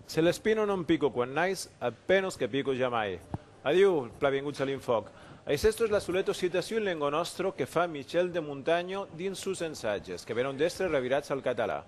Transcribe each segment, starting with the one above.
Se l'espino non pico quan nais, a penos que pico jamai. Adiu, plavenguts a l'Infòc. Aicesto es la soleta citacion lengo nòstro que fa Michel de Montagno dins sos ensatges, que venon d'èstre revirats al catalan.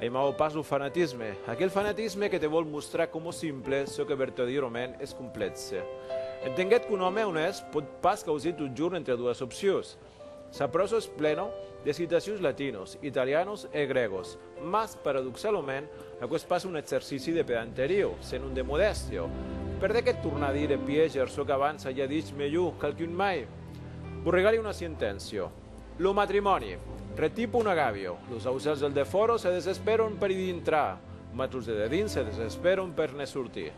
Emau pas lo fanatisme, aquel fanatisme que te vòl mostrar coma simple çò que vertadièrament es complèxe. Entenguèt qu'un òme onèst pòt pas causir totjorn entre doas opcions. Sa pròsa es plena de citacions latinos, italianos e grègos, mas, paradoxalament, aquò es pas un exercici de pedanteria, senon de modèstia. Per de qué tornar a dire e piéger çò qu'abans aja dich melhor qualqu'un mai? Vos regale una sentència. Lo matrimòni. Retipa un agavio. Los ausèls del defòra se desespèron per i dintrar, mas los de dedins se desespèron per ne sortir.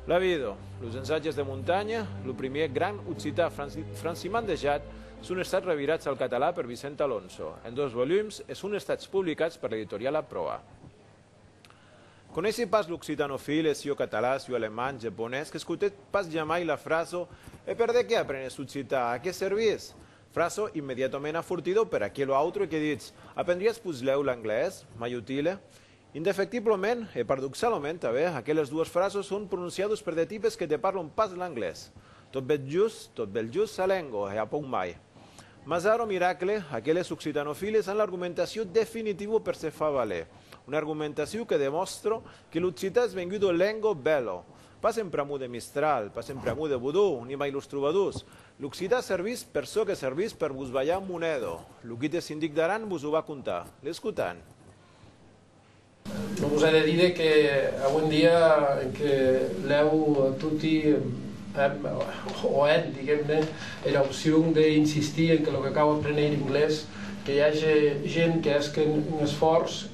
La vida. Los ensatges de montanha, lo primièr gran occità francimandejat, son estats revirats al català per Vicent Alonso, en dos volums, e son estats publicats per l'editoriala Proa. Conèissi pas l'occitanofil e sieu català, sieu alemand, japonés, qu'escotèt pas jamai la frasa E per de qué aprenes occitan? A qué servís? Frasa immediatament afortida per aquelo autre que ditz, Aprendriás puslèu l'anglés? Mai utile? Indefectiblament, e paradoxalament tanben, aqueles dues frasas son prononciadas per de tipes que te parlan pas l'anglés. Tot bèth just, tot bèth just sa lenga, e a pauc mai. Mas ara, miracle, aqueles occitanofiles an l'argumentacion definitiva per se far valer. Una argumentacion que demòstra que l'occitan es venguda lenga bèla, Pas en pr'amor de Mistral, pas en pr'amor de Bodó, ni mai los trobadors. L'occidà servís per çò que servís per vos balhar mon èdo. Lo guid de sindic d'Aran vos o va contar. L'escotan. Non vos a de díder que aué un dia en que lèu toti èm, o èn, diguem-ne, era opcion de insistir en que lo que cau apréner inglés, que i age gent que hèsquen un esfòrç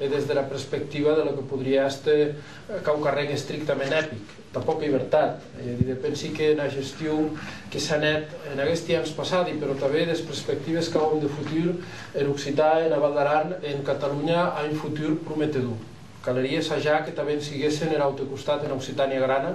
e des dera perspectiva de lo que podrie èster quauquarren estrictament epic, tà pòca ibertat, ei a díder, pensi que ena gestion que s'an hèt en aguesti ans passadi, però tanben des perspectives qu'auem de futur en occitan e ena Val d'Aran e en Catalonha a un futur prometedor. Calerie sajar que tanben siguessen er aute costat ena Occitània grana,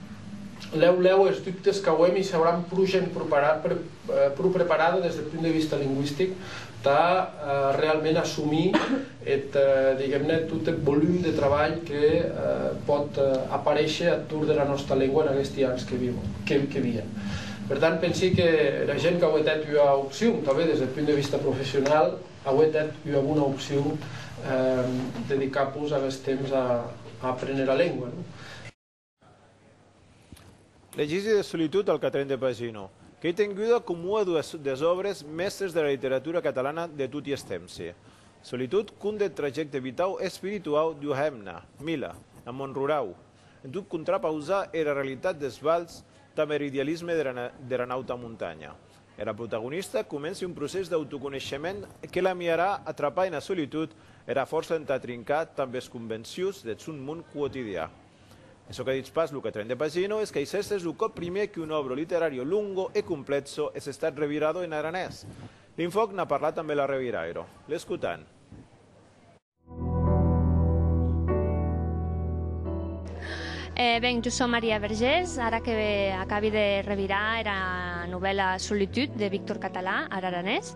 Lèu lèu es dubtes qu'auem i s'auran pro gent pro preparada des deth punt de vista lingüistic tà realment assumir eth, diguem-ne, tot eth volum de trabalh que pòt aparéisher ath torn dera nòsta lengua en aguesti ans que vien. Per tant, pensi que era gent qu'auetz hèt ua opcion, tanben des deth punt de vista professionau, auetz hèt ua bona opcion, dedicar-pos aguest temps a apréner era lengua. Legisi de solitud al quatrèn de pagina, qu'ei tenguda com ua des òbres mèstres de la literatura catalana de toti es tempsi. Solitud conta eth trajècte vitau e espirituau d'ua hemna, Mila, en mon rurau, en tot contrapausar era realitat des valhs damb er idealisme dera nauta montanha. Era protagonista comenci un procès d'autoconeishement que l'amiarà a trapar ena solitud era fòrça entà trincar tamb es convencions deth sòn mon quotidià. E çò que ditz pas lo quatrèn de Pagino es qu'ei s'èstes lo còp primièr qu'un òbro literario lungo e complètzo es estat revirado en aranés. Linfòc n'a parlat ambe l'arrevirairo. L'escotan. E ben, jo sò Maria Vergés, ara que acabi de revirar era novèla Solitude de Víctor Català ar aranés.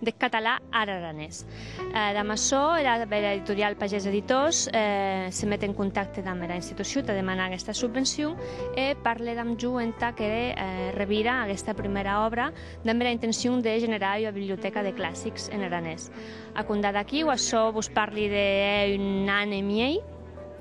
deth catalan ar aranés. Damb açò, era bèla editorial Pagés Editors se met en contacte damb era institucion tà demanar aguesta subvencion e parle damb jo entà que revira aguesta prumèra òbra damb era intencion de generar ua biblioteca de classics en aranés. A compdar d'aquí, o açò vos parli de hè un an e miei,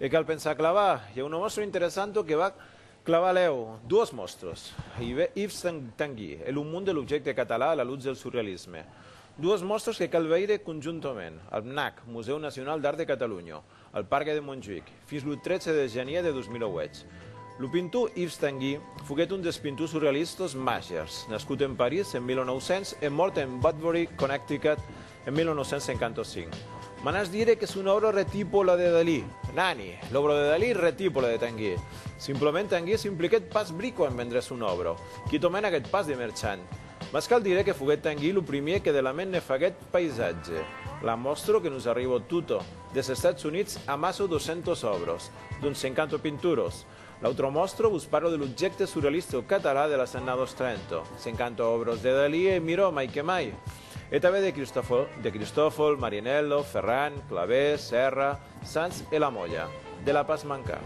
E cal pensar clavar. I a una mòstra interessanto que va clavar lèu. Duos mòstros. I ve Yves Tanguy e lo mond de l'objècte català a la lutz del surrealisme. Duos mòstros que cal veire conjuntament, al MNAC, Musèu Nacional d'Art de Cataluña, al Pargue de Montjuïc, fins lo 13 de janièr de 2008. Lo pintor Yves Tanguy foguèt un dels pintors surrealistas màgers, nascut en París en 1900 e mòrt en Woodbury, Connecticut, En 1955. M'anàs dire que son òbra retípo la de Dalí. Nani! L'òbra de Dalí retípo la de Tanguy. Simplement Tanguy s'impliquèt pas brico en vendre son òbra. Quitòment aguèt pas de merchant. Mas cal dire que foguèt Tanguy lo primier que de la ment ne faguèt païsatge. La mòstro que nos arribò tota, des Estats Units, amasso 200 òbras, dont 50 pinturas. L'autre mòstro, vos parlo de l'objècte surrealista o català de las annados trenta. Sencanta òbras de Dalí e Miró, mai que mai. E tanben de Cristòfol, de Cristòfol, Marianello, Ferran, Clavé, Serra, Sans e La Moya. De la pas mancar.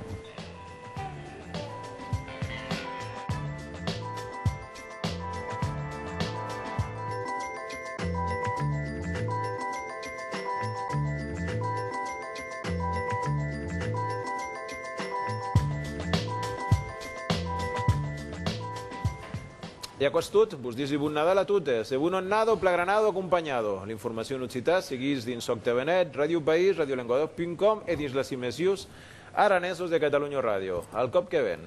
E aquò es tot. Vos disi Bon Nadal a totes e Bon Annado plagranado acompanhado. L'informacion en occitan seguís dins Sòctavenet, Radio País, Radiolenguadoc.com e dins las imesius Aranesos de Catalunya Ràdio. Al còp que ven!